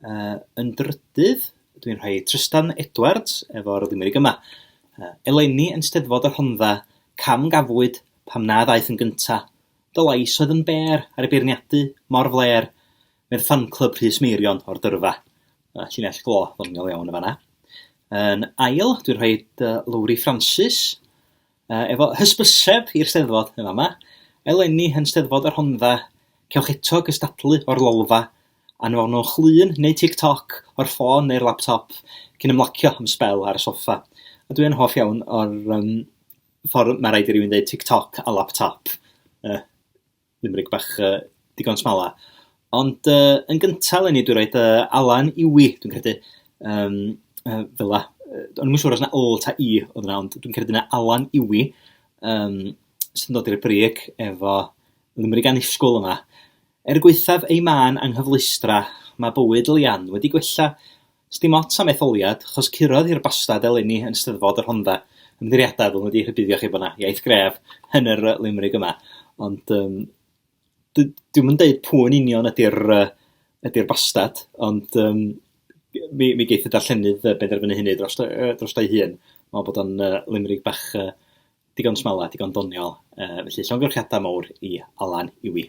Uh, yn drydydd, dwi'n rhoi Trystan Edwards efo'r limeric yma. Uh, eleni yn steddfod y Rhondda, cam gafwyd pam na ddaeth yn gynta. Dy lais oedd yn bêr ar y beirniadu mor fler, mewn ffanclub Rhys Meirion o'r dyrfa. Uh, llinell glo ddoniol iawn y fanna. Yn ail, dwi'n rhoi dy Lowri Francis, Uh, efo hysbyseb i'r steddfod yn fama, eleni yn steddfod y Rhondda, cewch eto gystadlu o'r lolfa, anfonwch lun neu TikTok o'r ffôn neu'r laptop cyn ymlacio am sbel ar y soffa. A dwi yn hoff iawn o'r um, ffordd mae rhaid i rywun dweud TikTok a laptop. Uh, limrig bach uh, digon smala. Ond uh, yn gyntaf, Lenny, dwi'n rhaid uh, Alan Iwi, dwi'n credu, um, uh, fel la. Ond yn siŵr os yna ôl ta i oedd yna, ond dwi'n credu yna Alan Iwi, um, sy'n dod i'r brig efo limrig anusgwl yma. Er gweithaf ei man anghyfleustra, mae bywyd Lian wedi gwella, Sdim ots am etholiad, achos curodd hi'r bastad eleni yn Steddfod y Rhondda. Ymddirieddau, ddylwn wedi rhybuddio chi bod yna iaith gref yn yr yy limrig yma. Ond um, dwi ddim yn deud pwy yn union ydy'r uh, ydy'r bastad, ond um, mi, mi geith y darllenydd uh, benderfynu hynny dros, uh, dros ei hun. Mae'n bod o'n uh, limrig bach uh, digon smala, digon doniol. Uh, felly, llongyfrchiadau mawr i Alan Iwi.